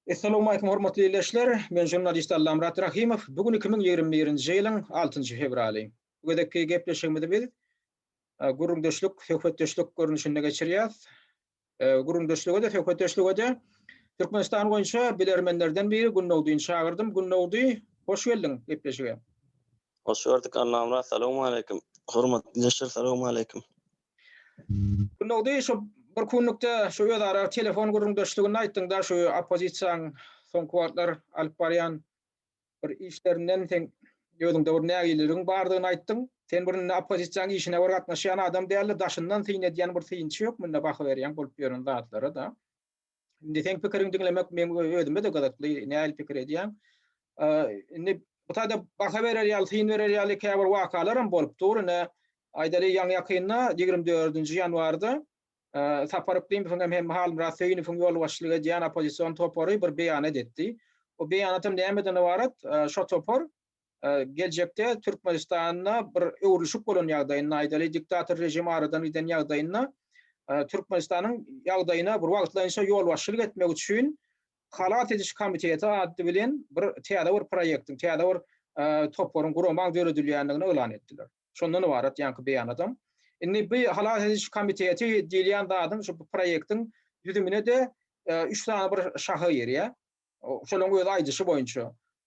Essalawmaleýkum hormatly ildeşler, men žurnalist Allamyrat Rahymow, bu gün iki müň ýigrimi birinji ýylyň altynjy fewraly. Bu gezekki gepleşigimizi biz gürrüňdeşlik, söhbetdeşlik görnüşinde geçirýäs. Gürrüňdeşlige-de, söhbetdeşlige-de Türkmenistan boýunça bilermenlerden biri Günnowdyny çagyrdym. Günnowdy, hoş geldiň gepleşige. Hoş gördük Allamyrat, salawmaleýkim. Hormatly ildeşler, salawmaleýkim. Gündogydy şu bir kunlukda şu özara telefon gürrüňdeşliginde aýtdyňda şu oppozisiýaň soňky wagtlar alyp barýan bir işlerinden seň özüňde bir nägileligiň bardygyny aýtdyň. Sen bir indi oppozisiýaň işine bir gatnaşýan adam dälde daşyndan syn edýän bir synçy ýok munda baha berýäň bolup ýören zatlara-da. Indi seň pikiriň diňlemek meň özüme-de gyzykly, nähili pikir edýäň? Indi bu taýda baha berer ýaly, syn berer ýaly käbir wakalar hem bolup dur. Ine, aýdaly, ýaňy-ýakynda, ýigrimi dördünji ýanwarda Sapar Yklymowyň hem, hem Halmyrat Söýünowyň ýolbaşçylyk edýän oppozision topary bir beýanat etdi. O beýanat hem nämeden ybarat? Şo topar geljekde Türkmenistanda bir öwrülişik bolan ýagdaýynda, aýdaly, diktator režim aradan giden ýagdaýynda Türkmenistanyň ýagdaýyna bir wagtlaýynça ýolbaşçylyk etmek üçin Halas ediş komiteti ady bilen bir täze bir proýektiň, täze bir toparyň, guramaň döredilýändigini yglan etdiler. Şondan ybarat ýaňky beýanatam. Indi bu Halas ediş komiteti diýilýän zadyň şu proýektiň düzümine-de üç sany bir şaha girýär. şolaryň öz aýdyşy boýunça,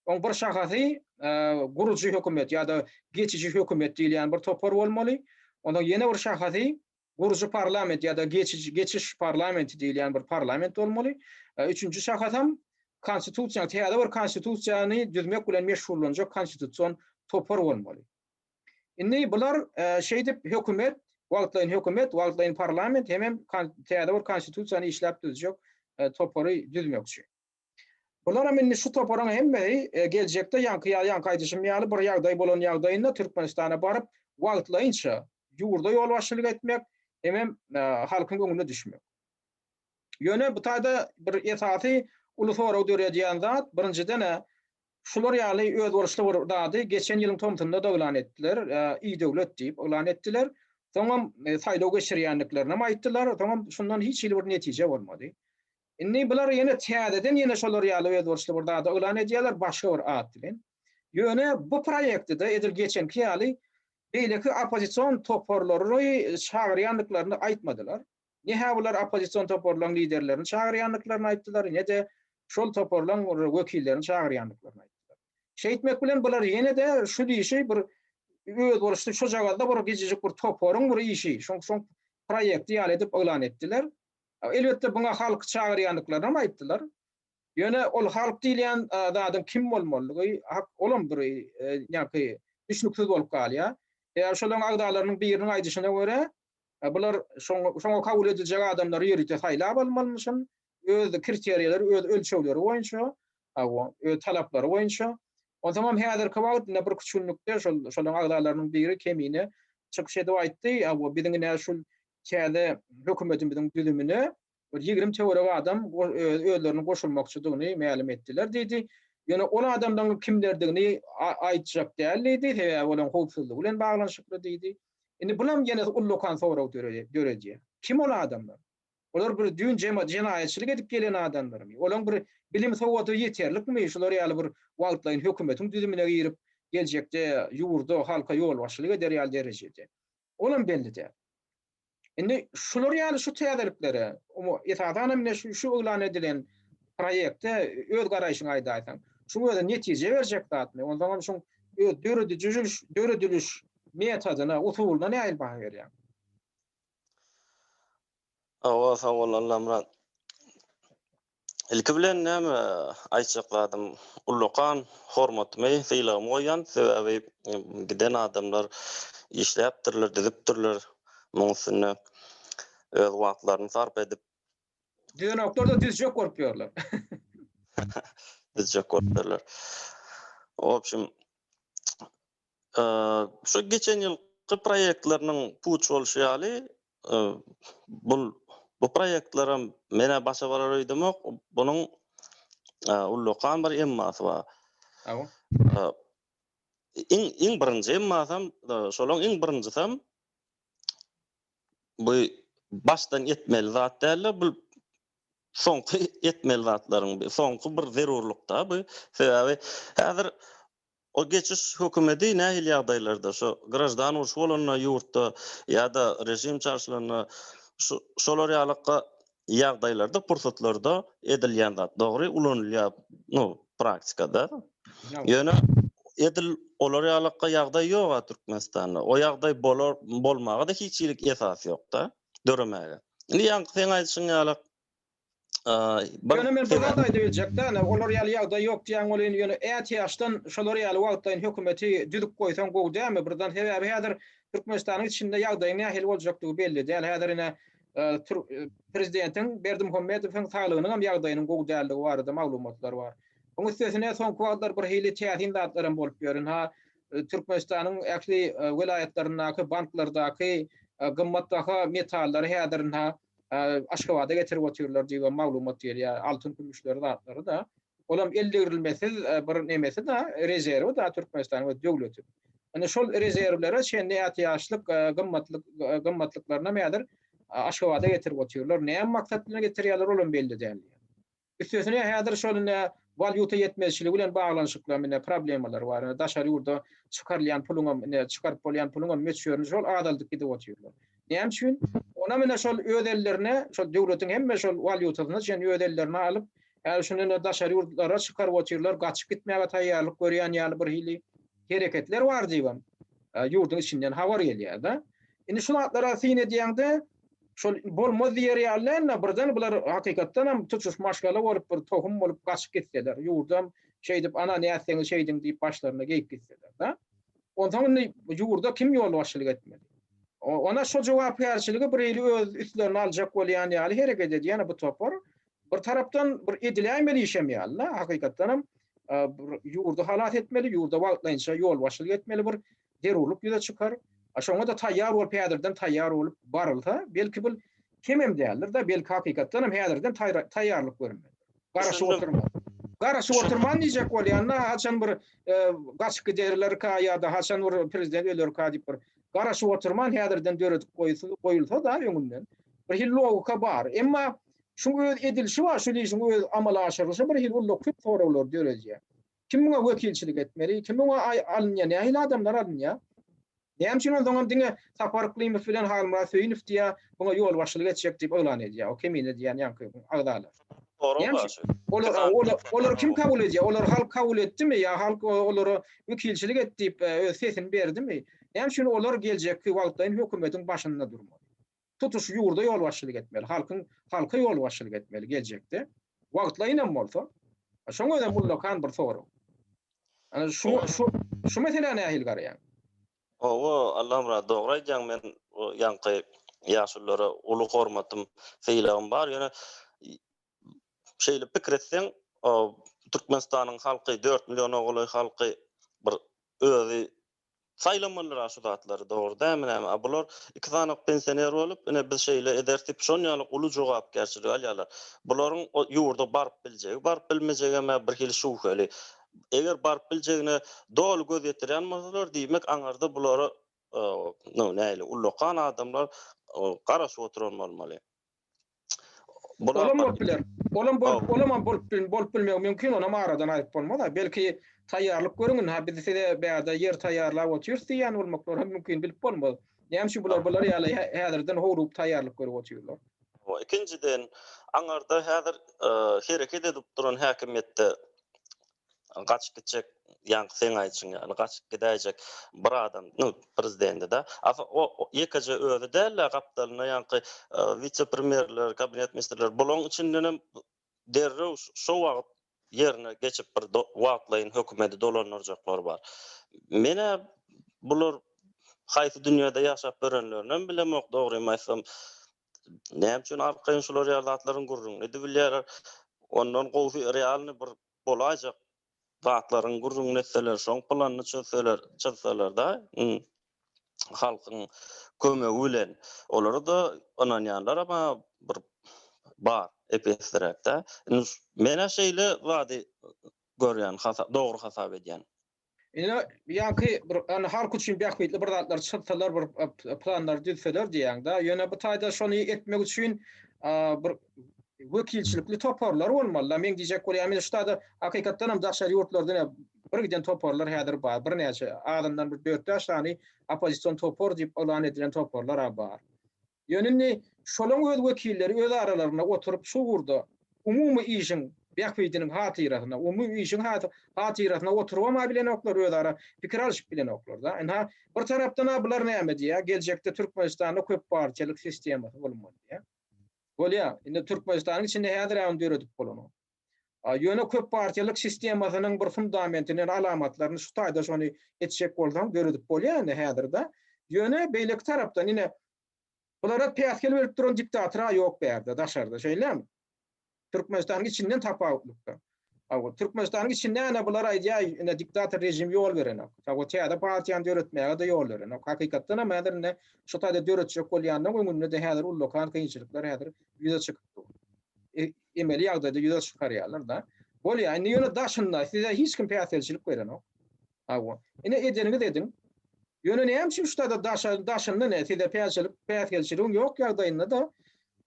oň bir şahasy gurujy hökümet ýa-da geçiji hökümet diýilýän bir topar bolmaly, onuň ýene bir şahasy gurujy parlament ýa-da geçiji geçiş parlamenti diýilýän bir parlament bolmaly, üçünji şahasam konstitusiýa täze bir konstitusiýany düzmek bilen meşgullanjak konstitusion topar bolmaly. Indi bular şeýdip hökümet, wagtlaýyn hökümet, wagtlaýyn parlament hemem täze bir konstitusiýany işläp düzjek topary düzmekçi. Bularam indi şu toparyň hemmesi geljekde ýaňky ýaly ýaňky aýdyşym ýaly bir ýagdaý bolan ýagdaýynda Türkmenistana baryp wagtlaýynça ýurda ýolbaşçylyk etmek hemem halkyň öňüne düşmek. Ýöne bu taýda bir esasy uly sorag döredýän zat birinjiden-ä Şular ýaly özboluşly bir zady geçen ýylyň tomsunda-da yglan etdiler, idöwlet diýip yglan etdiler. Soňam saýlaw geçirýändiklerinem aýtdylar, soňam şundan hiç hili bir netije bolmady. Indi bular ýene täzeden ýene şolar ýaly özboluşly bir zady yglan edýärler, başga bir at bilen. Ýöne bu proýekti-de edil geçenki ýaly beýleki oppozision toparlary çagyrýandyklaryny aýtmadylar. Ne-hä bular oppozision toparlaryň liderlerini çagyrýandyklaryny aýtdylar, ne-de şol toparlaryň wekillerini çagyrýandyklaryny aýtdylar. Şeýtmek bilen bular ýene-de şu işi bir özboluşly şojagazda bir gijejik bir toparyň bir işi, şoň şoň proýekti ýaly edip yglan etdiler. Elbetde buňa halky çagyrýandyklaryny-am aýtdylar. Ýöne ol halk diýilýän zadyň kim bolmalydygy hak olam bir ýaňky düşnüksiz bolup galýar. Eýer şolaryň agzalarynyň biriniň aýdyşyna görä, Bular şoň, şoňa kabul ediljek adamlary ýörite saýlap almalymyşyn, öz kriteriýaleri, öz ölçegleri boýunça, hawa, öz talaplary boýunça. Onsoňam häzirki wagt ine bir küçgünlikde şol, şolaryň agzalarynyň biri Kemine çykyş edip aýtdy, hawa, biziň ine şu täze hökümetimiziň düzümine bir ýigrimi töweregi adam özlerini goşulmakçydygyny mälim etdiler diýdi. Ýöne ol adamlaryň kimlerdigini aýtjak däl diýdi, sebäbi olaryň howpsuzlygy bilen baglanyşykly diýdi. Indi bulam ýene ullakan sorag döredýär. Kim ol adamlar? Olar bir düýn jenaýatçylyk edip gelen adamlarmy? Olaryň bir bilim sowady ýeterlikmi? Şular ýaly bir wagtlaýyn hökümetiň düzümine girip, geljekde ýurda, halka ýolbaşçylyk eder ýaly derejede. Olam belli däl. Indi şular ýaly şu täzeliklere, esasan hem şu şu yglan edilen proýekte öz garaýşyňy aýdaýsaň. Şuň özi netije berjek zatmy? Onsoň hem şuň öz döredijiliş dörediliş metodyna, usulyna nähili baha berýäň? Hawa, sag bol, Allamyrat. Ilki bilen näme aýtjak zadym, ullakan hormatymy, sylagymy goýýan, sebäbi giden adamlar işläpdirler, düzüpdirler, muň üstünde öz wagtlaryny sarp edip. Düzenoklarda düzjek bolup ýörler. Düzjek bolup ýörler. Obşim, Şu geçen ýylky proýektleriniň puç bolşy ýaly, bul bu proýektlerem menä başa barar öýdemok, bunuň ullakan bir emmasy bar. Iň iň birinji emmasam, şolaň iň birinjisem bu başdan etmeli zat dälde, bul soňky etmeli zatlaryň, soňky bir zerurlyk-da bu. Sebäbi häzir O geçiş hökümedi nähili ýagdaýlarda, şu graždan urşy bolanda ýurtda ýa-da režim çaşylanda şu şolar ýalykka ýagdaýlarda, pursatlarda edilýän zat. Dogry, ulanylýar, nu, praktikada. Ýöne edil olar ýalykka ýagdaý ýog-a Türkmenistanda. O ýagdaý bolar, bolmaga-da hiç hili esas ýok-da, döremäge. Indi ýaňky seň aýdyşyň ýaly Ýöne men bir zat aýdyp biljekde, ine, olar ýaly ýagdaý ýok diýýäň welin, ýöne ätiýaçdan şolar ýaly wagtlaýyn hökümeti düzüp goýsaň gowy dälmi? Birden, sebäbi häzir Türkmenistanyň içinde ýagdaýyň nähili boljakdygy belli däl. Häzir, ine, prezidentiň Berdimuhamedowyň saglygynyňam ýagdaýynyň gowy däldigi barada maglumatlar bar. Onuň üstesine, soňky wagtlar birhili täsin zatlar hem bolup ýör. Ynha, Türkmenistanyň ähli welaýatlaryndaky banklardaky gymmatbaha metallary häzir, ynha, Aşgabada getirip otyrlar diýibem maglumat gelýär. Altyn kümüşleri zatlary-da. Olam el degrilmesiz bir nemesi-da, rezerwi-da Türkmenistanyň öz döwleti. Indi şol rezerwlere çenli ätiýaçlyk gymmatlyk gymmatlyklarynam häzir Aşgabada getirip otyrlar. Näme maksat bilen getirýärler olam belli däl. Üstesine häzir şol ine walýuta ýetmezçiligi bilen baglanyşykly ine problemalar bar. Ine daşary ýurda çykarylýan puluňam ine çykaryp bolýan puluňam möçberini şol azaldyp gidip otyrlar. Näme üçin? Onam ine şol öz ellerine şol döwletiň hemme şol walýutasyny çenli öz ellerine alyp häzir şuny ine daşary ýurtlara çykaryp otyrlar gaçyp gitmäge taýýarlyk görýän ýaly birhili. hereketler bar diýibem ýurduň içinden habar gelýärdi. Indi şu zatlara syn edýäňde, şol bolmaz diýer ýaly däldi, birden bular hakykatdan hem tutuş maşgala bolup, bir tohum bolup gaçyp gitseler, ýurdam şeýdip, ana nätseňiz şeýdiň diýip başlaryna geýip gitseler-de. Onsoň indi ýurda kim ýolbaşçylyk etmeli? Ony şo jogapkärçiligi bir ýeri öz üstlerine aljak bolýan ýaly hereket edýär bu topar. Bir tarapdan bir ediläýmeli işem ýaly-da, hakykatdanam bir ýurdy halas etmeli, ýurda wagtlaýynça ýolbaşçylyk etmeli bir zerurlyk ýüze çykar. Şoňa-da taýýar bolup, häzirden taýýar bolup barylsa, belki bul kemem däldir-de, belki hakykatdanam häzirden taýýarlyk görünmelidir. Garaşyp oturman. Garaşyp oturman diýjek bolýan-da, haçan bir gaçyp giderlerka ýa-da haçan bir prezident ölerka diýip bir garaşyp oturman häzirden döredip goýulsa-da öňünden, birhili logika bar. Emma Şuň öz edilişi bar, şul işiň öz amala aşyrylyşy bir hili ulla köp soraglary döredýär. Kim muňa wekilçilik etmeli? Kim muňa alynýar? Nähili adamlar alynýar? Näme üçin onsoňam diňe Sapar Yklymow bilen Halmyrat Söýünow diýýä, muňa ýolbaşçylyk etjek diýip yglan edýär o kemine diýýän ýaňky agzalar? Näme üçin? Olar, olary kim kabul edýär? Olary halk kabul etdimi? Ýa halk olara wekilçilik et diýip öz sesini berdimi? Näme üçin olar geljekki wagtlaýyn hökümetiň başynda durmaly? tutuş ýurda ýolbaşçylyk etmeli, halkyň halka ýolbaşçylyk etmeli geljekde. Wagtlaýyn hem bolsa. Şoň özem ullakan bir sorag. Ana şu şu şu meselä nähili garaýaň? Hawa, Allamyrat dogry aýdýaň. Men bu ýaňky ýaşulylara uly hormatym, sylagym bar. Ýöne şeýle pikir etseň, Türkmenistanyň halky dört milliona golaý halky bir özi Saýlamalyra şu zatlary dogry dämi näme a bular iki sanyk pensioner bolup ine biz şeýle ederis diýip şon ýaly uly jogapkärçiligi alýarlar bularyň o ýurda baryp biljegi baryp bilmejegem ä bir hili şübheli eger baryp biljegine doly göz ýetirýän bolsalar diýmek aňarda bulara no nähili ullakan adamlar garaşyp oturan bolmaly. Olam bolup biler. Olam bolup, olam bolup bil, bolup bilmegi mümkin, onam aradan aýyp bolmaz-a. Belki taýýarlyk görüň indi, ha biz size bärde ýer taýýarlap otyrys diýýän bolmaklary hem mümkin, bilip bolmaz. Näme üçin bular bular ýaly häzirden howlugyp taýýarlyk görüp otyrlar? Hawa, ikinjiden, aňarda häzir hereket edip duran häkimiýetde gaçyp gitjek ýaňky seň aýdyşyň ýaly gaçyp gidäýjek bir adam nu prezidendida asa o ýekeje özi dälä gapdalynda ýaňky wise premýerler kabinet ministrler bulaň içindenem derrew şo wagyt ýerine geçip bir wagtlaýyn hökümedi dolandyrjaklar bar menä bular haýsy dünýede ýaşap örenlerinem bilemok dogrymy aýtsam näme üçin arkaýyn şular ýaly zatlaryň gürrüňini edibilýärler ondan gowsy realny bir bolaýjak zatlaryň gürrüňini etseler, şoň planyny çözseler, çyzsalar-da, halkyň kömegi bilen, olara-da ynanýanlar ama bir bar, ep-esliräk-dä. Indi men-ä şeýle zady görýän, dogry hasap edýän. Ine, ýaňky bir ýa halk üçin bähbitli bir zatlar çyzsalar, bir planlar düzseler diýýäň-dä. Ýöne bu taýda şony etmek üçin bir wekilçilikli toparlar bolmaly-da. Meň diýjek bolýan, men şutada hakykatdan hem daşary ýurtlardan bir giden toparlar häzir bar. Birnäçe, azyndan bir dört-bäş sany oppozision topar diýip yglan edilen toparlar-a bar. Ýöne indi şolaň öz wekilleri öz aralarynda oturyp şu ugurda umumy işiň bähbidiniň hatyrasyna, umumy işiň hatyrasyna oturybam bilenoklar, özara pikir alyşyp bilenoklar-da. Ynha, bir tarapdan-a bular näme diýýär, geljekde Türkmenistanda köp partiýalyk sistemasy bolmaly diýýär. Bolýar. Indi Türkmenistanyň içinde häzir-ä ony döredip bolanok. Ýöne köp partiýalyk sistemasynyň bir fundamentini, alamatlaryny şu taýda şony etjek bolsaň döredip bolýar indi häzirde. Ýöne beýleki tarapdan ine bulara päsgel berip duran diktatora ýok bärde daşarda şeýlemi? Türkmenistanyň içinden tapawutlykda. Aw Türkmenistanyň içinde ene bular aýdýar ine diktator režim ýol berenok. Aw täze partiýany döretmäge-de ýol berenok. Hakykatdan hem häzir ine şu taýda döretjek bolýanyň öňünde-de häzir ullakan kynçylyklar häzir ýüze çykyp dur. emeli ýagdaýda ýüze çykarýarlar-da. Bolýar, indi ýöne daşynda size hiç kim päsgelçilik berenok. Hawa, ine edeniňiz ediň. Ýöne näme üçin ştada daşa daşynda ne size päsgelik päsgelçiligiň ýok ýagdaýynda-da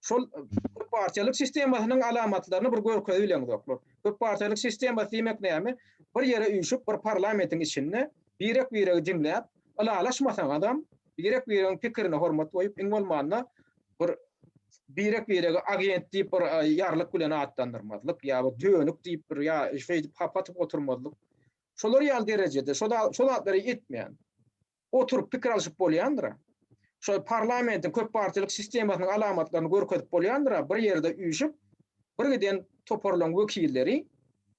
şol köp partiýalyk sistemasynyň alamatlaryny bir görkezip bileňizoklar. Köp partiýalyk sistemasy diýmek näme? Bir ýere üýşüp, bir parlamentiň içinde birek-biregi diňläp, ylalaşmasaňyzam, birek-biregiň pikirine hormat goýup, iň bolmanda bir birek-birege agent diýip bir ýarlyk bilen atlandyrmazlyk ýa bir dönük diýip bir ýa şeýdip hap atyp oturmazlyk. Şolar ýaly derejede şo zatlary etmän oturyp pikir alşyp bolýandyr-a. Şo parlamentiň köp partiýalyk sistemasynyň alamatlaryny görkezip bolýandyr-a, bir ýerde üýşüp, birgiden toparlaryň wekilleri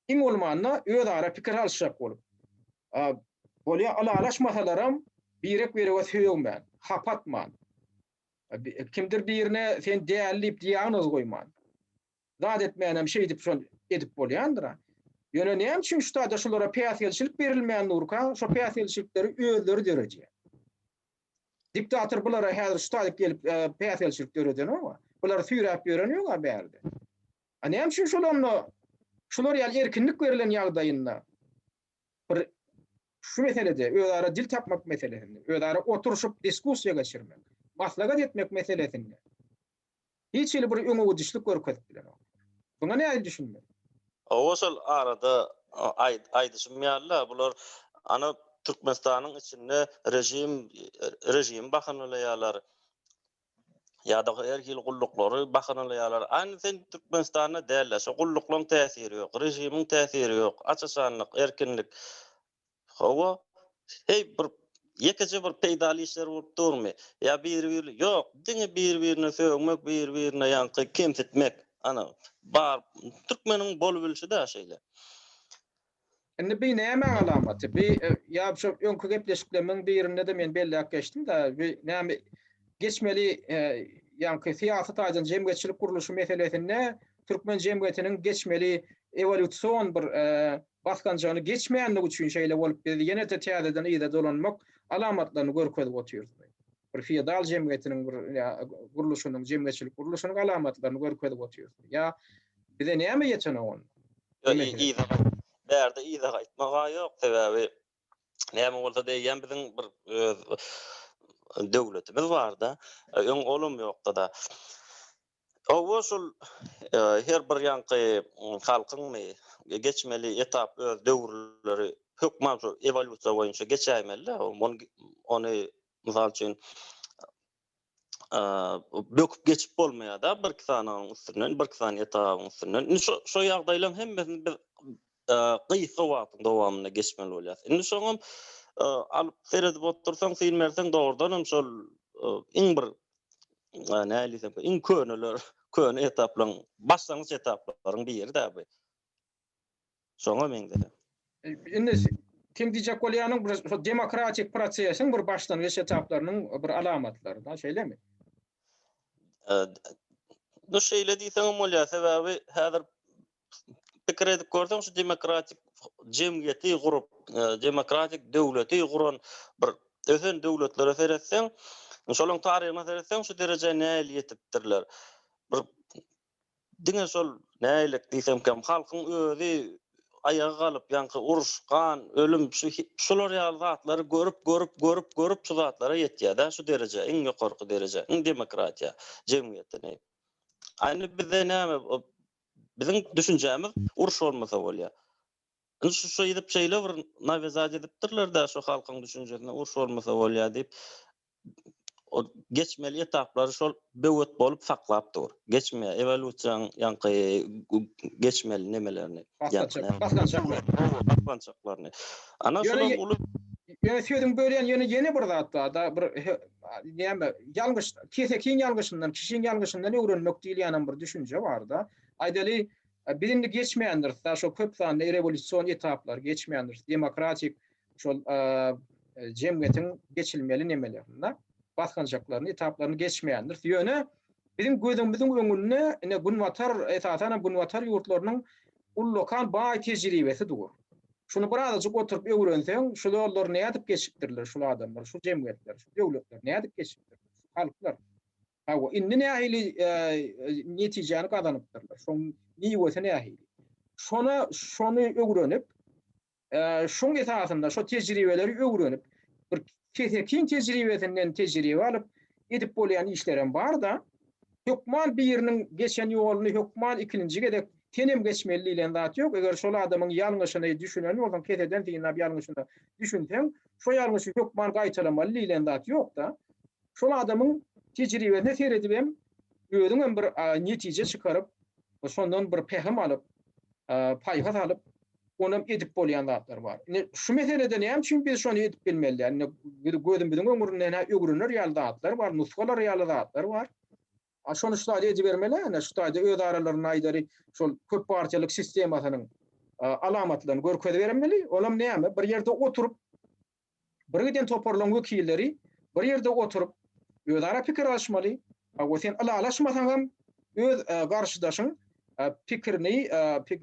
iň bolmanda özara pikir alyşjak bolup, bolýa ylalaşmasalaram birek-birege sögmän, hap atman, Kimdir birine sen däli diýip diagnoz goýman. Zat etmänem şeýdip şol edip bolýandyr-a. Ýöne näme üçin şu taýda şulara päsgelçilik berilmän durka, şo päsgelçilikleri özleri döredýär. Diktator bulara häzir şu taýda gelip päsgelçilik döredenok-a. Bulary süýräp ýören ýok-a bärde. A näme üçin şol onda şular ýaly erkinlik berlen ýagdaýynda bir şu meselede özara dil tapmak meselesinde, özara oturyşyp diskussiýa geçirmek, maslahat etmek meselesinde hiç hili bir öňegidişlik görkezip bilenok. Muňa nähili düşünmeli? Hawa şol arada aýdyşym ýaly-da bular ana Türkmenistanyň içinde režim režimi bahanalaýarlar. Ýa-da her hili gulluklary bahanalaýarlar. Aýna sen Türkmenistanda däl-ä, şo gulluklaň täsiri ýok, režimiň täsiri ýok, aç-açanlyk, erkinlik. Hawa, heý bir ýekeje bir peýdaly işler bolup durmy? Ýa biri-biri, ýok, diňe biri-birine sögmek, biri-birine ýaňky kemsitmek. Ana, bar, türkmeniň bolubilişi-dä şeýle. Indi bi nämäň alamaty? Bi ýa şo öňki gepleşiklerimiň birinde-de men belläp geçdim-de, bi näme geçmeli ýaňky syýasy taýdan jemgyýetçilik gurluşy meselesinde türkmen jemgyýetiniň geçmeli ewolýusion bir basgançagyny geçmänligi üçin şeýle bolup biz ýene-de täzeden yza dolanmak alamatlaryny görkezip otyrys. Bir feodal jemgyýetiniň bir gurluşynyň, jemgyýetçilik gurluşynyň alamatlaryny görkezip otyrys. Ýa Bize näme ýetenok onda? Bärde yza gaýtmaga ýok, sebäbi näme bolsa deýýän biziň bir öz döwletimiz barda, öň olam ýokda-da. Hawa şol her bir ýaňky halkyňmy geçmeli etap öz döwürleri hökman şu ewolýusiýa boýunça geçäýmeli-dä. Ony mysal üçin böküp geçip bolmaýar da bir iki sanaň üstünden bir iki sany etabyň üstünden indi şu şu ýagdaýlaryň hemmesini biz gysga wagtyň dowamynda geçmeli bolýar indi şoňam alyp seredip otursaň syn berseň dogrudan hem şol iň bir näli iň köneler köne etaplaryň başlangyç etaplaryň biri da bu Şoňa meňzedi. Indi seň diýjek bolýanyň bir şo demokratik prosesiň bir başlangyç etaplarynyň bir alamatlary da, şeýlemi? Bu şeýle diýseňem bolýar, sebäbi häzir pikir edip görseň şu demokratik jemgyýeti gurup, e, demokratik döwleti guran bir ösen döwletlere seretseň, şolaryň taryhyna seretseň şu derejä nähili ýetipdirler? Bir Diňe şol nägilek diýsemkäm halkyň özi aýaga galyp ýaňky uruş, gan, ölüm şu şular ýaly zatlary görüp görüp görüp görüp şu zatlara ýetýädä şu derejä iň ýokarky derejä iň demokratiýa jemgyýetini. A indi bizde näme biziň düşünjämiz uruş bolmasa bolýa. Indi şu şeýdip şeýle bir nawizat edipdirlerdä şu halkyň düşünjesine uruş bolmasa bolýa diýip geçmeli etaplary şol böwet bolup saklap dur. Geçmeýär. Ewolýusiýanyň ýaňky geçmeli nemelerini. Basgançaklaryny. Ana şolar uly. Ýöne sözüňi bölýän ýöne ýene bir zat barda bir näme ýalňyş kesekiň ýalňyşyndan kişiň ýalňyşyndan öwrenmek diýilýänem bir düşünje barda. Aýdaly biz indi geçmändiris da şo köp sanly rewolýusion etaplary geçmändiris demokratik şol jemgyýetiň geçilmeli nemelerinde basgançaklaryny, etaplaryny geçmeýändiris. Ýöne biziň gözümiziň öňünde ine günbatar, esasan hem günbatar ýurtlarynyň ullakan baý tejribesi dur. Şuny birazajyk oturyp öwrenseň, şu ýollary nädip geçipdirler şul adamlar, şu jemgyýetler, şu döwletler nädip geçipdirler, şu halklar. Hawa, indi nähili netijäni gazanypdyrlar, şoň miwesi nähili. Şona şony öwrenip, Şoň esasynda şo tejribeleri öwrenip, bir kesekiň tejribesinden tejribe alyp, edip bolýan işlerem bar-da. Hökman biriniň geçen ýoluny hökman ikinji gezek senem geçmeli diýlen zat ýok. Eger şol adamyň ýalňyşyny düşünen bolsaň, keseden synlap ýalňyşyna düşünseň, şo ýalňyşy hökman gaýtalamaly diýlen zat ýok-da. Şol adamyň tejribesine seredibem, özüňem bir netije çykaryp, şondan bir pähim alyp, paýhas alyp, onam edip bolýan zatlar bar. Indi şu meselede näme üçin biz şony edip bilmeli däl? Indi biz gözümiziň öňürinden öwrener ýaly zatlar bar, nusgalar ýaly zatlar bar. A şony şu taýda edibermeli, ine şu taýda öz aralarynda aýdaly, şol köp partiýalyk sistemasynyň alamatlaryny görkezibermeli. Olam näme? Bir ýerde oturyp, birgiden toparlaryň wekilleri bir ýerde oturyp özara pikir alyşmaly, hawa sen ylalaşmasaňam öz garşydaşyň pikirini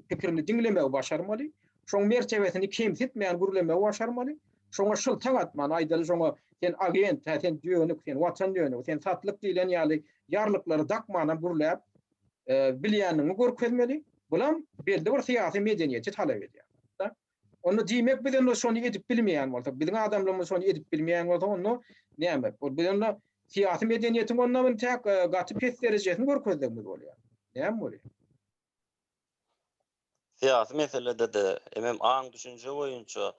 pikirini diňlemegi başarmaly, şoň mertebesini kemsitmän gürlemegi başarmaly, şoňa şyltaň atman aýdaly şoňa sen agent, hä sen dönük, sen watan dönügi, sen satlyk diýlen ýaly ýarlyklary dakmanam gürläp bilýänligiňi görkezmeli, bulam belli bir syýasy medeniýeti talap edýär. Onda diýmek biz onda şony edip bilmeýän bolsak, biziň adamlarymyz şony edip bilmeýän bolsa onda näme? Ol biz onda syýasy medeniýetiň onda intäk gaty pes derejesini görkezdigimiz bolýar. Näme bolýar? Syýasy meselede-de, emem aň-düşünje boýunça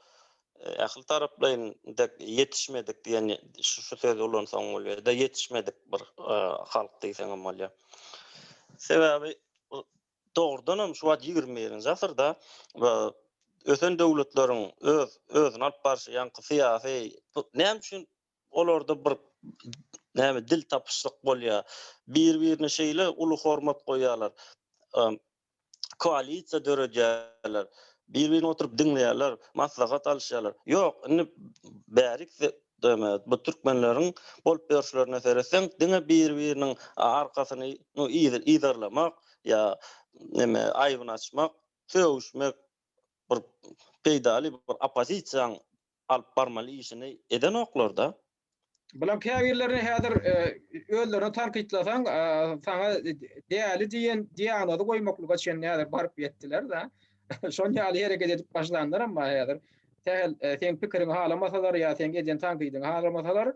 ähli taraplaýyn dek ýetişmedik diýen şu sözi ulansaň bolýar-da, ýetişmedik bir halk diýseňem bolýar. Sebäbi dogrudan hem şu wagt ýigrimi birinji asyrda ösen döwletleriň öz özüni alyp barşy ýaňky syýasy näme üçin olarda bir näme dil tapyşlyk bolýar bir birine şeýle uly hormat goýýarlar koalisiýa döredýärler bir birini oturyp diňleýärler maslahat alyşýarlar ýok indi bärik Döwmet, bu türkmenleriň bolup ýörşlerine seretseň, diňe bir-biriniň arkasyny yzarlamak ýa neme aýbyny açmak, sögüşmek bir peýdaly bir oppozisiýaň alyp barmaly işini edenoklar-da. Bulaň käbirlerini häzir özlerine tankytlasaň, saňa däli diýen diagnozy goýmaklyga çenli häzir baryp ýetdiler-de. Şon ýaly hereket edip başlanlaram bar häzir. Sähel e, seň pikiriňi halamasalar ýa seň eden tankydyňy halamasalar,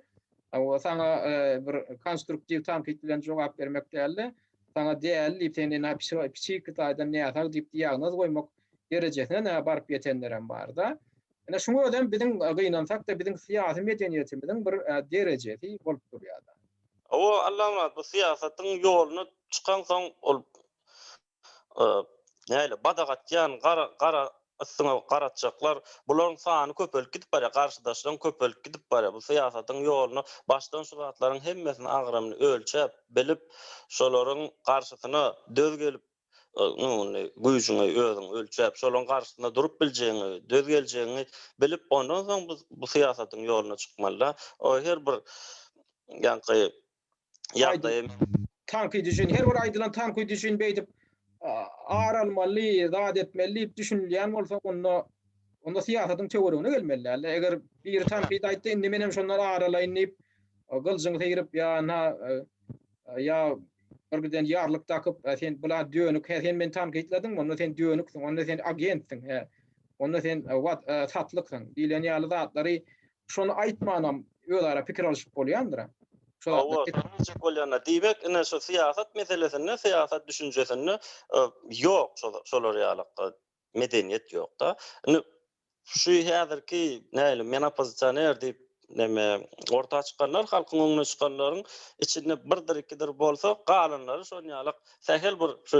o saňa e, bir konstruktiw tankyt bilen jogap bermek däldi. Saňa däli diýip seni nä psihi taýdan näsag diýip diagnoz goýmak derejesine nä baryp ýetenlerem barda. Ene şuňa özem biziň e, gynansak da biziň syýasy medeniýetimiziň bir e, derejesi bolup durýar. O Allamyrat bu syýasatyň ýoluna çykansoň ol näle badagatýan gara gara ysyňa garatjaklar bularyň sany köpelip gidip barýar garşydaşlaryň köpelip gidip barýar bu syýasatyň ýoluna başdan şu zatlaryň hemmesini agramyny ölçäp bilip şolaryň garşysyna döz gelip ýöne güýjüňi özüň ölçäp şolaryň garşysyna durup biljegiňi döz geljegiňi bilip ondan soň bu syýasatyň ýoluna çykmalyda o her bir ýaňky ýagdaýy tankyt üçin her bir aýdylan tankyt üçin beýdip ar almaly zat etmeli diýip düşünilýän bolsa onda onda syýasatyň töweregine gelmeli däl eger biri tankyt aýtdy indi menem şondan ar alaýyn diýip gyljyňy seýrip ýa na ýa bir giden ýarlyk dakyp sen bula dönük he sen meni tankytladyň onda sen dönüksiň onda sen agentdiň he onda sen wat satlyksyň diýlen ýaly zatlary Şony aýtmanam özara pikir alyşyp bolýandyr-a. Hawa, alyjak bolýanlar. Diýmek, ine şu syýasat meselesinde, syýasat düşünjesinde ýok şolar ýalykda medeniýet ýok-da. Indi şu häzirki nälim men oppozisioner diýip neme orta çykanlar halkyň öňüne çykanlaryň içinde birdir ikidir bolsa galanlary şon ýalyk sähel bir şu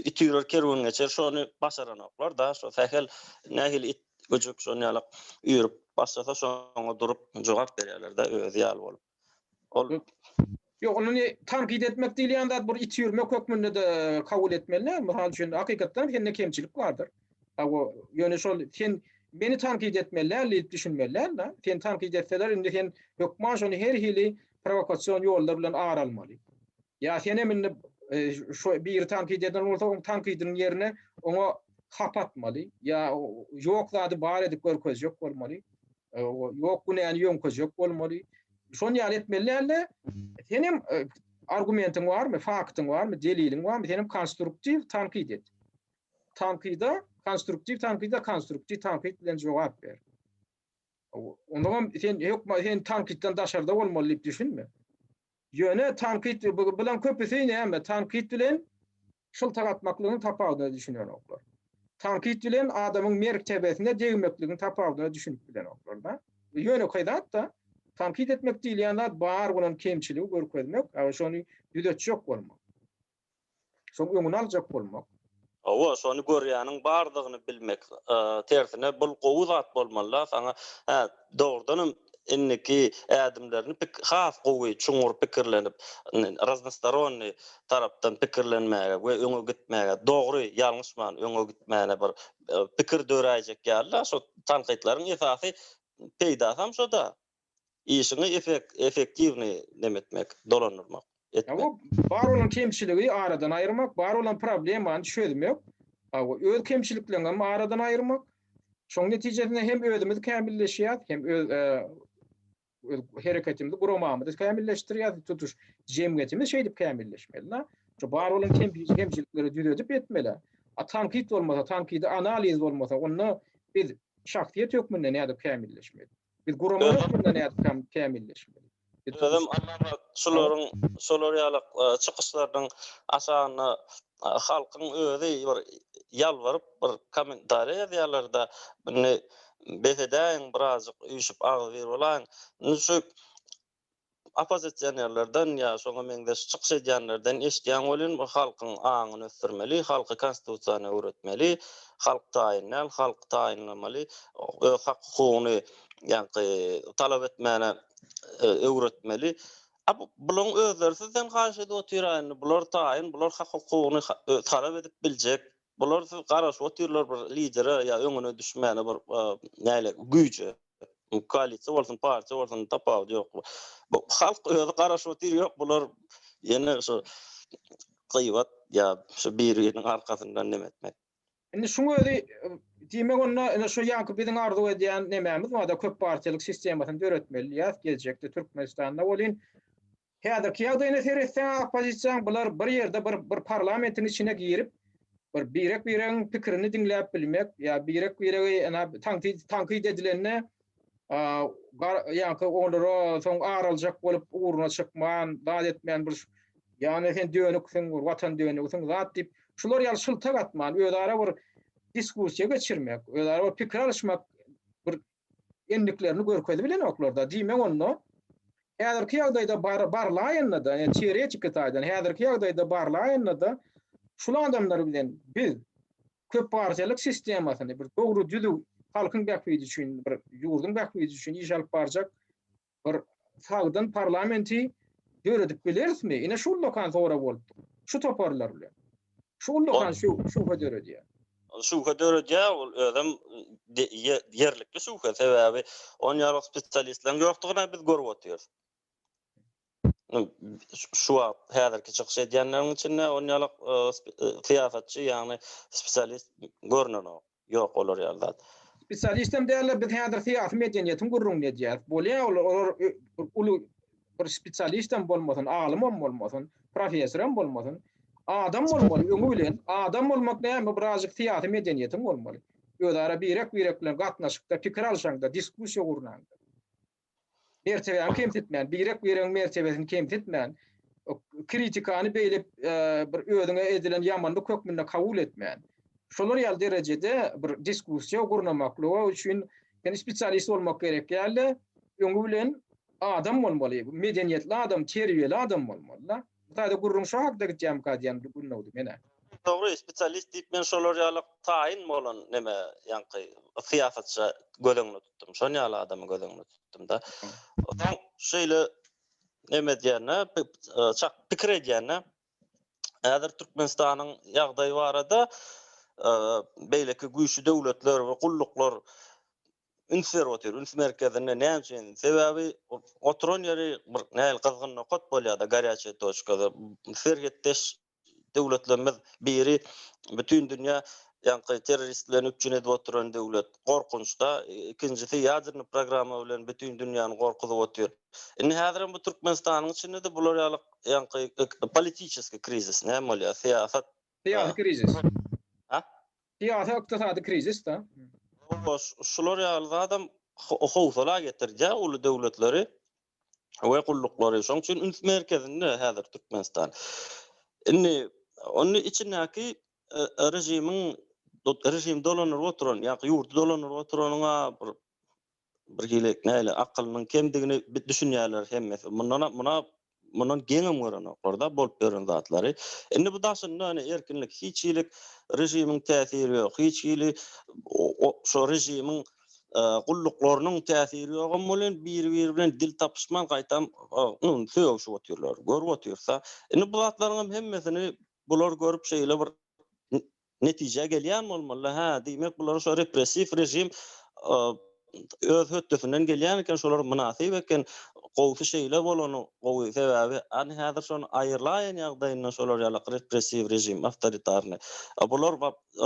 it üýrer kerwen geçer şony başaranoklar-da şo sähel nähili it Güjük şon ýalak üýrüp başlasa şoňa durup jogap berýärlerde özi ýaly bolup. Ol Ýok, ony tankyt etmek diýilýän zat bir it üýrmek hökmünde-de kabul etmeliler. Mysal üçin, hakykatdan sende kemçilik bardyr. Hawa, ýöne şol sen meni tankyt etmeli däl diýip düşünmeli däl-de. Seni tankyt etseler, indi sen hökman şony her hili prowokasion ýollar bilen ar almaly. Ýa sen hem indi şu biri tankyt eden bolsa oň tankydynyň ýerine oňa hap atmaly ýa ýok zady bar edip görkezjek bolmaly. Ýok günäni ýöňkezjek bolmaly. Şony ýaly etmeli dälde sen hem argumentiň barmy, faktyň barmy, deliliň barmy sen hem konstruktiw tankyt et. Tankyda konstruktiw tankyda konstruktiw tankyt bilen jogap ber. Onagam sen hökman sen tankytdan daşarda bolmaly diýip düşünme. Ýöne tankyt bilen köpüsi näme tankyt bilen şyltak atmaklygyň tapawudyna düşünenoklar. Tankyt bilen adamyň mertebesine degmekligiň tapawudyna düşünip bilenoklar-da. Ýönekeý zat-da. Tankyt etmek diýilýän zat bar bolan kemçiligi görkezmek, şony düzetjek bolmak. Şoň öňüni aljak bolmak. Hawa, şony görýäniň bardygyny bilmek. Tersine bul gowy zat bolmaly-da saňa. Hä, dogrudanam indiki ädimlerini pik has gowy çuňňur pikirlenip, raznostoronnyý tarapdan pikirlenmäge we öňe gitmäge, dogry, ýalňyşman öňe gitmäne bir pikir döräýjek ýaly-da, şo tankytlaryň esasy peýdasam şo-da. Işiňi efektiwny neme etmek, dolandyrmak, etmek. Bar bolan kemçiligi aradan aýyrmak, bar bolan problemany çözmek, öz kemçilikleriňem aradan aýyrmak. Şoň netijesinde hem özümiz kämilleşýäs, hem öz hereketimizi, guramamyzy kämilleşdirýäs, tutuş jemgyýetimiz şeýdip kämilleşmeli-de. Şu bar bolan kemçilikleri düzedip etmeli. A tankyt bolmasa, tankydy analiz bolmasa, onda biz şahsyýet hökmünde nädip kämilleşmeli? Biz guramany ösdürmeli nädip tam kämilleşmeli? Özüm Allama şularyň şolar ýaly e, çykyşlarynyň aşagynda e, halkyň özi bir ýalbaryp bir kommentariýa ýazýarlar-da, indi bes edäýiň birazjyk üýşüp agzybir bolaýyň. Indi şu oppozisionerlerden ýa şoňa meňzeş çykyş edýänlerden eşidýän welin, bu halkyň aňyny ösdürmeli, halky konstitusiýany öwretmeli, halk taýyn däl, halk taýynlamaly, öz hak-hukugyny ýaňky talap etmäne öwretmeli. A bu bulaň özleri sizden haýyş edip otyr-a indi, bular taýyn, bular hak-hukugyny talap edip biljek. Bular siz garaşyp otyrlar bir lidere ýa öňüne düşmäne bir näle güýje. Koalisiýa bolsun, partiýa bolsun tapawudy ýok. Bu halk özi garaşyp otyr ýok bular ýene şu gyýbat ýa şu biri biriniň arkasyndan neme etmek. Indi şuň özi diýmek onda ine şu ýaňky biziň arzuw edýän nemämiz bar-da köp partiýalyk sistemasyny döretmeli diýýäs geljekde Türkmenistanda welin Häzirki ýagdaýyna seretseň oppozisiýaň bular bir ýerde bir bir parlamentiň içine girip bir birek biregiň pikirini diňläp bilmek ýa birek biregi ene tankyt tankyt edilende ýaňky olara soň ar aljak bolup ugruna çykman zat etmän bir ýagny sen dönüksiň bir watan dönügisiň zat diýip şular ýaly şyltak atman özara bir diskussiýa geçirmek özara bir pikir alyşmak bir endiklerini görkezi bilenoklar-da. Diýmek onda, häzirki ýagdaýda bar, barlaýanda-da, ýa teoretiki taýdan häzirki ýagdaýda barlaýanda-da, şul adamlar bilen biz köp partiýalyk sistemasyny, bir dogry-düzüw, halkyň bähbidi üçin, bir ýurduň bähbidi üçin iş alyp barjak Bir sagdyn parlamenti döredip bilerismi? Ine şu ullakan sorag bolup dur. Şu toparlar bilen. Şu ullakan şübhe döredýär. Şübhe döredýär, ol özem ýerlikli şübhe. Sebäbi on ýaly spesialistleriň ýokdugyny biz görüp otyrys. Şu wagt häzirki çykyş edýänleriň içinde on ýaly syýasatçy, ýagny spesialist görnenok. Ýok olar ýaly zat. Spesialistem däller biz häzir syýasy medeniýetiň gürrüňini edýäs. Bolýa olar olar uly bir spesialistem bolmasyn alymam bolmasyn professorem bolmasyn adam bolmaly öňi bilen adam bolmak näme birazjyk syýasy medeniýetiň bolmaly özara birek birek bilen gatnaşykda pikir alşaňda diskussiýa gurnaňda mertebäni kemsitmän, birek biregiň mertebesini kemsitmän, kritikany beýle e, bir özüňe edilen ýamanlyk hökmünde kabul etmän, şolar ýaly derejede bir diskussiýa gurnamaklyga üçin sen spesialist bolmak gerek ýaly öňi bilen adam bolmaly, medeniýetli adam, terbiýeli adam bolmaly. Bu taýda gürrüň şo hakda gitýämika diýen bir gün dogdy menä. Dogry, spesialist diýip men şolar ýaly taýyn bolan neme ýaňky syýasatça göz öňüne tutdum. Şon ýaly adamy göz öňüne tutdum-da. Sen şeýle neme edýäne, çak pikir edýäne, häzir Türkmenistanyň ýagdaýy barada beýleki güýçli döwletler we gulluklar üns berip otyr. Üns merkezinde näme üçin? Sebäbi oturan ýeri bir nähili gyzgyn nokat bolýar-da, garýaçe toçka. Serhetdeş döwletlerimiz biri bütin dünýä ýaňky terrorist bilen üpjün edip oturan döwlet. Gorkunçda. Ikinjisi ýadernýy programma bilen bütin dünýäni gorkuzyp otyr. Indi häzirem bu Türkmenistanyň içinde-de bular ýaly ýaňky politiçeskiý krizis näme bolýar? Syýasat. Syýasy krizis. Syýasy ykdysady krizisde. Şular ýaly zadam howsala getirýär uly döwletleri we gulluklary. Şoň üçin üns merkezinde häzir Türkmenistan. Indi ony içindäki režimiň režim dolandyryp oturan ýa-da ýurdy dolandyryp oturanyň-a bir bir hili näle akylynyň kemdigini düşünýärler hemmesi. Mundan muna mundan geňem görenoklar-da bolup ýören zatlary. Indi bu daşynda ýöne erkinlik hiç hili režimiň täsiri ýok. Hiç hili şo režimiň gulluklarynyň täsiri ýogam welin biri-biri bilen dil tapyşman gaýtam sögüşip otyrlar. Görüp otyrys-da. Indi bu zatlaryňam hemmesini bular görüp şeýle bir netijä gelýän bolmaly hä diýmek bular şo repressiw režim öz hötdesinden gelýän eken şolar mynasyp eken gowsy şeýle bolany gowy sebäbi any häzir şony aýyrlaýyn ýagdaýynda şolar ýalak repressiw režim awtoritarny bular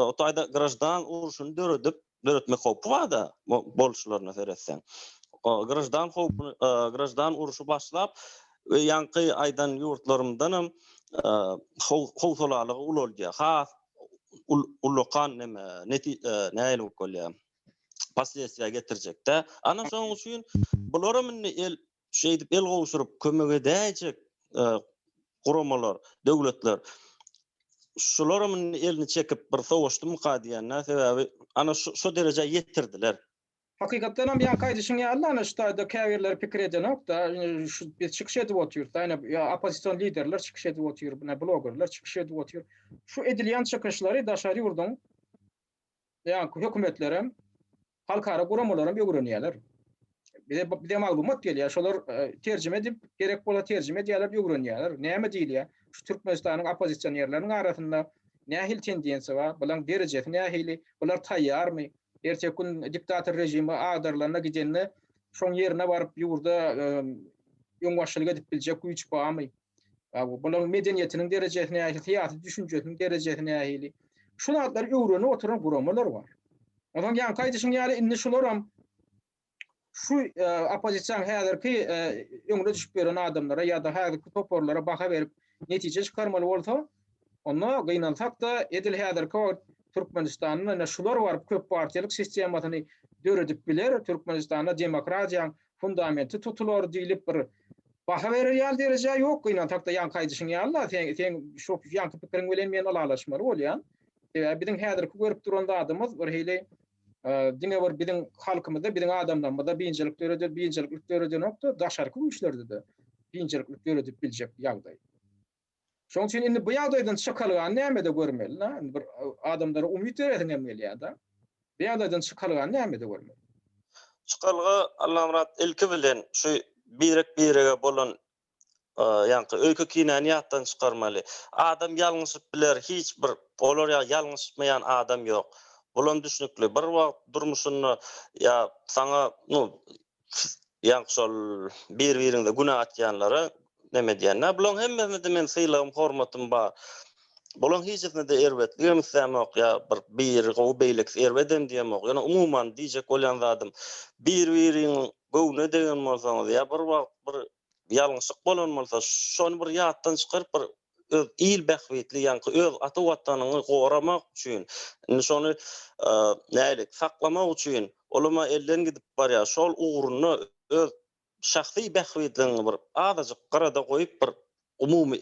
o taýda graždan urşuny döredip döretmek howpy bar-da, boluşlaryna seretseň. Graždan howpuny, graždan urşy başlap, ýaňky aýdan ýurtlarymdanam howsalalygy ulaldýar. Has ullakan neme, nähili bolup bolýar, posledstwiýa getirjek-dä. Ana, şonuň üçin bularam indi el şeýdip el gowşuryp kömek edäýjek guramalar, döwletler şularam elini çekip bir sowaşdymyka diýende sebäbi ana şu derejä ýetirdiler. Hakykatdan hem ýaňky aýdyşyň ýaly ana şu taýda käbirleri pikir edenokda şu biz çykyş edip otyrys ýa ýa oppozision liderler çykyş edip otyr buna blogerler çykyş edip otyr şu edilýän çykyşlary daşary ýurduň ýa hökümetlerem Halkara guramalaram ögrenýärler. Bize bize maglumat gelýär, şolar terjime edip, gerek bolsa terjime edýärler, ögrenýärler. Näme diýilýär? Şu Türkmenistanyň oppozisionerleriniň arasynda nähili tendensiýa bar? Bularyň derejesi nähili? Bular taýýarmy? Erteki gün diktator režimi agdarylanda, gidende şoň ýerine baryp ýurda öňbaşçylyk edip biljek güýç barmy? Bularyň medeniýetiniň derejesi nähili, syýasy düşünjesiniň derejesi nähili? Şu zatlary öwrenip oturan guramalar bar. Onsoň ýaňky aýdyşyň ýaly indi şularam şu oppozisiýanyň häzirki öňüne düşüp ýören adamlara ýa-da häzirki toparlara baha berip netije çykarmaly bolsa, Onda gynansak-da, edil häzirki wagt Türkmenistanda ine şular baryp köp partiýalyk sistemasyny döredip biler, Türkmenistanda demokratiýaň fundamenti tutular diýlip bir baha berer ýaly derejä ýok gynansak-da, ýaňky aýdyşyň ýaly-la, seň seň şu ýaňky pikiriň bilen men ylalaşmaly bolýan. Sebäbi biziň häzirki görüp duran zadymyz bir hili diňe bir biziň halkymyzda, biziň adamlarymyzda biynjalyk döreden, biynjalyk döredenok-da, daşarky güýçlerde-de biynjalyk döredip biljek ýagdaý. Şoň üçin indi bu ýagdaýdan çykalgany nämede görmeli? Na, indi bir adamlara umyt beresiň hem gelýär-de. Bu ýagdaýdan çykalgany nämede görmeli? Çykalga, Allamyrat, ilki bilen şu birek-birege bolan ýaňky öýke-kinäni ýatdan çykarmaly. Adam ýalňyşyp biler, hiç bir olar ýaly ýalňyşmaýan adam ýok. Bulam düşnükli. Bir wagt durmuşynda ýa saňa, nu, Ýaňky şol bir-biriňize günä atýanlara neme edýän-dä. Bularyň hemmesine-de meniň sylagym, hormatym bar. Bularyň hijisine-de erbetligem islämok ýa bir biri gowy, beýlekisi erbedem diýemok. Ýöne umuman diýjek bolýan zadym, bir-biriňiň göwnüne degen bolsaňyz ýa bir wagt bir ýalňyşyk bolan bolsa, şony bir ýatdan çykaryp, bir öz il bähbitli ýaňky öz ata watanyňy goramak üçin indi şony nälik saklamak üçin olama elden gidip barýar şol ugrunda öz şahsy bähbitligiňi bir azajyk gyrada goýup bir umumy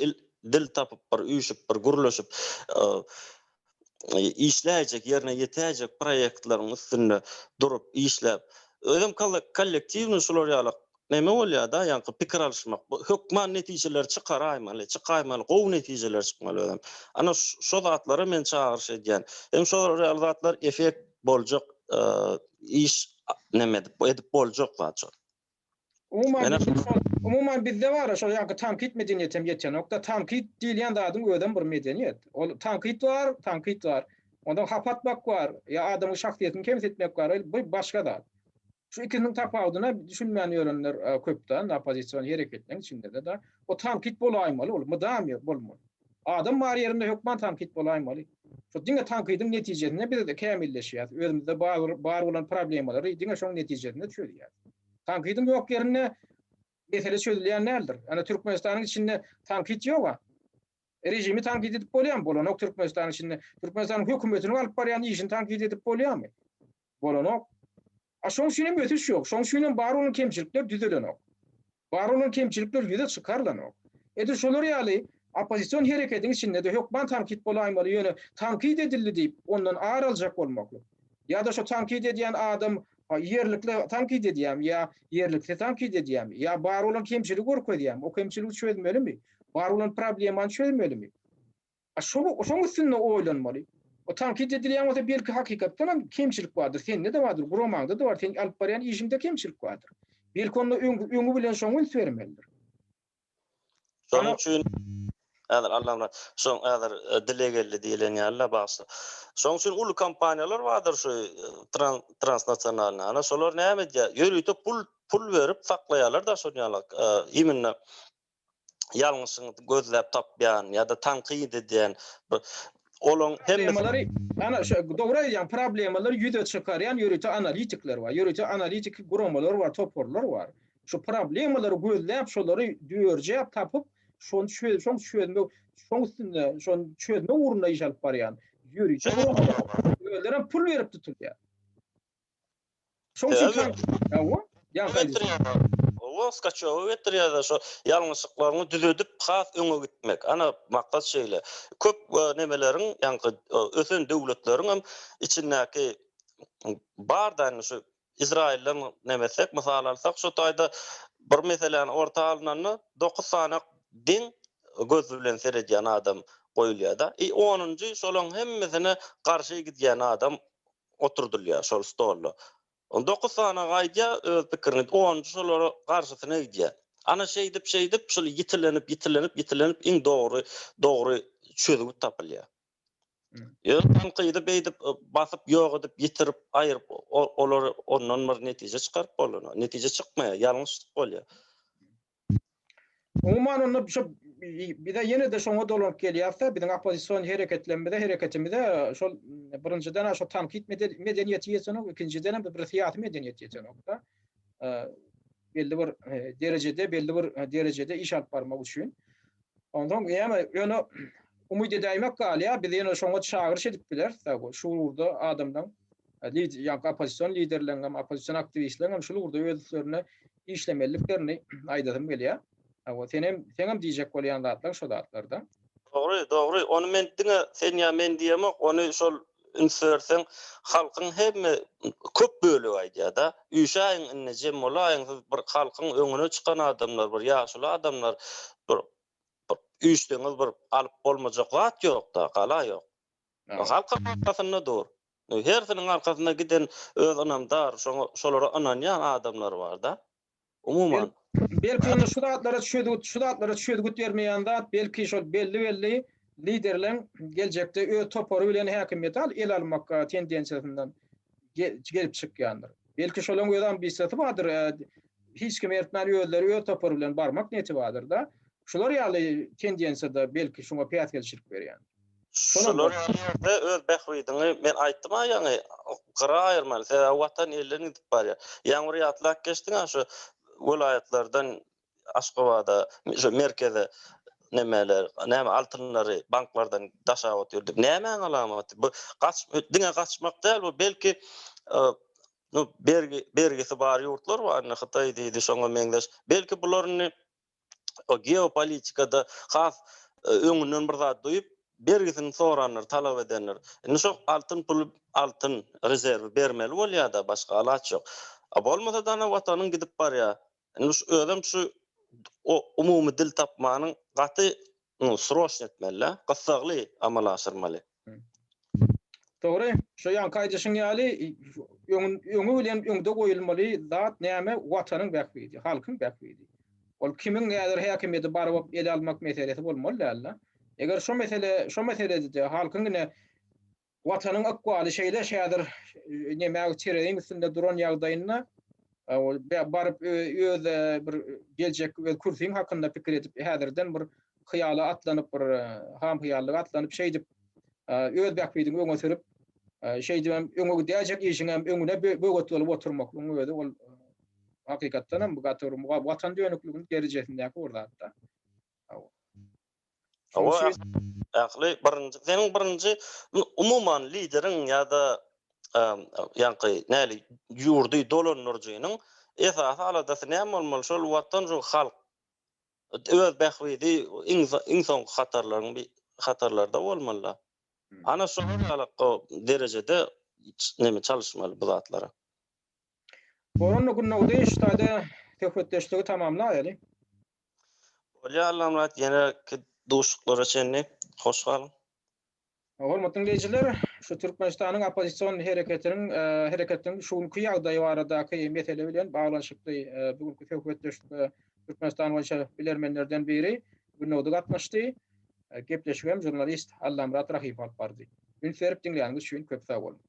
dil tapyp bir üýşüp bir gürleşip işläýjek, ýerine ýetäýjek proýektlaryň üstünde durup, işläp, özem kollektiwnyý şular ýaly näme bolýar-da, ýaňky pikir alyşmak, hökman netijeleri çykaraýmaly, çykaýmaly, gowy netijeler çykmaly özem. Ana, şo zatlara men çagyryş edýän. Hem şolar ýaly zatlar effekt boljak iş näme edip, edip boljak zat şo. Umuman bizde bar şol ýaňky tankyt medeniýeti hem ýetenokda. Tankyt diýilýän zadyň özem bir medeniýet. Ol tankyt bar, tankyt bar. Ondan hapa atmak bar, ýa adamyň şahsyýetini kemsitmek bar, bu başga zat. Şu ikisiniň tapawudyna düşünmän ýörenler köp-de, oppozisiýon hereketleň içinde-de. O tankyt bolaýmaly, ol mydama bolmaly. Adam bar ýerinde hökman tankyt bolaýmaly. Şo diňe tankydyň netijesinde biz kämilleşýäs, özümizde bar bolan problemalary diňe şoň netijesinde çözýäs. Tankydyň ýok ýerinde mesele çözülýän däldir. Ýöne Türkmenistanyň içinde tankyt ýog-a. Režimi tankyt edip bolýamy? Bolanok Türkmenistanyň içinde. Türkmenistanyň hökümetiniň alyp barýan işini tankyt edip bolýamy? bolanok. A şoň üçin hem ösüş ýok. Şoň üçin hem bar bolan kemçilikler düzelenok. Bar bolan kemçilikler ýüze çykarylanok. Edil şolar ýaly oppozision hereketiň içinde-de hökman tankyt bolaýmaly, ýöne tankyt edildi diýip, ondan ar aljak bolmaklyk. Ýa-da şo tankyt edýän adam ýerlikli tankyt edýärmi ýa ýerliksiz tankyt edýärmi? Ýa bar bolan kemçiligi görkezýärmi? O kemçiligi çözmelimi? Bar bolan problemany çözmelimi? A şol şoň üstünde oýlanmaly. O tankyt edilýän bolsa belki hakykatdan hem kemçilik bardyr, sende-de bardyr, guramaňda-da bar, seň alyp barýan işiňde kemçilik bardyr. Belki onda öňi bilen şoňa üns bermelidir. Şonuň üçin häzir Allamyrat şoň häzir dile geldi diýilen ýaly-la bagşy. Şoň üçin uly kompaniýalar bardyr şu transnasionalnyý. Ana şolar näme edýär? Ýörite pul pul berip saklaýarlar daşarýanlyk. Immnna ýalňyşyňyzy gözläp tapýan ýa-da tankyt edýän bir olaň hemmesi Problemalary, ana şo dogry aýdýaň, problemalary ýüze çykarýan ýörite analitikler bar, ýörite analitiki guramalar bar, toparlar bar. Şu problemalary gözläp, şolary dörjäp tapyp, şony çözüp, şoň çözmek, şoň üstünde, şony çözmek ugrunda iş alyp barýan ýörite guramalar bar. Özlerem pul berip tutulýar. Şoň üçin tank. Hawa. Ýa gaýdyp. Owa, skaçoga getirýärler şo ýalňyşlyklaryňy düzedip, has öňe gitmek. Ana, maksat şeýle. Köp nemeleriň, ýaňky ösen döwletleriň hem içindäki bar da indi şu Izrailden nemetsek, mysal alsak, şu taýda bir meseläni orta alynanda dokuz sany deň göz bilen seredýän adam goýulýar-da. I onunjy şolaryň hemmesine garşy gidýän adam oturdylýar şol stolda. On dokuz sany aýdýar öz pikirini, onunjy şolara garşysyny aýdýar. Ana şeýdip, şeýdip, şul ýitilenip, ýitilenip, ýitilenip iň dogry, dogry çözgüt tapylýar. Ýöne tankydy beýdip basyp, ýok edip, ýitirip, aýryp, o, olary ondan bir netije çykaryp bolana, netije çykmaýar, ýalňyş bolýar. Umuman onda şu bize ýene-de şoňa dolanyp gelýäris-de, biziň oppozision hereketlerimize, hereketimize şol birinjiden şo tankyt medeniýeti ýetenok, ikinjidenem bir syýasy medeniýet ýetenok-da. Belli bir derejede, belli bir derejede iş alyp barmak üçin. Onsoň ýene ýöne umyt edäýmek galýar, bizi ýene şoňa çagyryş edip biler. Şu ugurda adamlaň, ýa-da oppozision liderleriň hem, oppozision aktiwistleriň hem şul ugurda öz üstlerine işlemeliliklerini aýdasym gelýär. Sen hem, seň hem diýjek bolýan zatlaryň şo zatlar-da. Dogry, dogry. Ony men diňe sen ýa men diýemok, ony şol üns berseň, halkyň hemme köp bölegi aýdýar-da, Üýşäýiň indi, jem bolaýyň, siz bir halkyň öňüne çykan adamlar, bir ýaşuly adamlar, bir üýşseňiz bir alyp bolmajak zat ýok-da, gala ýok. Halkyň arkasynda dur. Hersiniň arkasynda giden öz ynamdar, şoňa, şolara ynanýan adamlary bar-da. Umuman. Belki indi şu zatlara çözgüt, şu zatlara çözgüt bermeýän zat, belki şol belli-belli liderleň geljekde öz topary bilen häkimiýeti al, ele almak tendensiýasyndan gelip çykýandyr. Belki şolaryň öz ambisiýasy bardyr, hiç kimi eritmän özleri öz topary bilen barmak niýeti bardyrda. Şular ýaly tendensiýa-da belki şuňa päsgelçilik berýändir. Şular ýerde öz bähbidiňi men aýtdym-a ýaňy gyra aýyrmaly. Sebäbi watan elden gidip barýar. Ýaňyr ýatlap geçdiň-ä şu welaýatlardan Aşgabada, şu merkeze nemeler, näme altynlary banklardan daşap otyr diýip. Nämäň alamaty? Bu gaç diňe gaçmak däl bu belki bergi bergisi bar ýurtlar bar indi Hytaý diýdi şoňa meňzeş. Belki bular indi geopolitikada has öňünden bir zat duýup, bergisini sorandyr, talap edendir. Indi şo altyn puly, altyn rezerwi bermeli bolýar-da, başga alaç ýok. A bolmasa-da ana Watanyň gidip barýar. Indi şu özem şu umumy dil tapmanyň gaty Muny sroçno etmelä, gyssagly amala aşyrmaly. Dogry, şo ýaňky aýdyşyň ýaly, öňi bilen öňde goýulmaly zat näme, Watanyň bähbidi, halkyň bähbidi. Ol kimiň häzir häkimiýeti barbap ele almak meselesi bolmaly däl-de. Eger şo mesele, şo meselede-de halkyň ine Watanyň ykbaly şeýle häzir näme tereziň üstünde duran ýagdaýynda baryp öz bir geljek öz kürsiň hakynda pikir edip häzirden bir hyýala atlanyp bir hamhyýallyga atlanyp şeýdip öz bähbidiňi öňe sürüp şeýdip hem öňe gidäýjek işiň hem öňüne böwet bolup oturmaklygyň özi ol hakykatdan hem gaty bir watan dönükliginiň derejesindäki bir zatda Hawa, ähli birinji, seniň birinji umuman lideriň ýa-da ýaňky näli ýurdy dolandyryjynyň esasy aladasy näme bolmaly? Şol watan, şol halk, öz bähbidi iň soňky hatarlaryň bir hatarlarda bolmaly-da. Ana şolar ýalak derejede neme çalyşmaly bu zatlara. Boranly Gündogdy ştaýda söhbetdeşligi tamamlaýaly. Bolýar Allamyrat ýeneki duşuşyklara çenli hoş galyň. Hormatly diňleýjiler, şu Türkmenistanyň oppozision hereketiniň hereketiniň şu günki ýagdaýy baradaky mesele bilen baglanyşykly bu günki söhbetdeşlikde Türkmenistan boýunça bilermenlerden biri Gündogdy gatnaşdy. Gepleşigi hem žurnalist Allamyrat Rahipow alyp bardy. Üns berip diňläniňiz üçin köp sag boluň.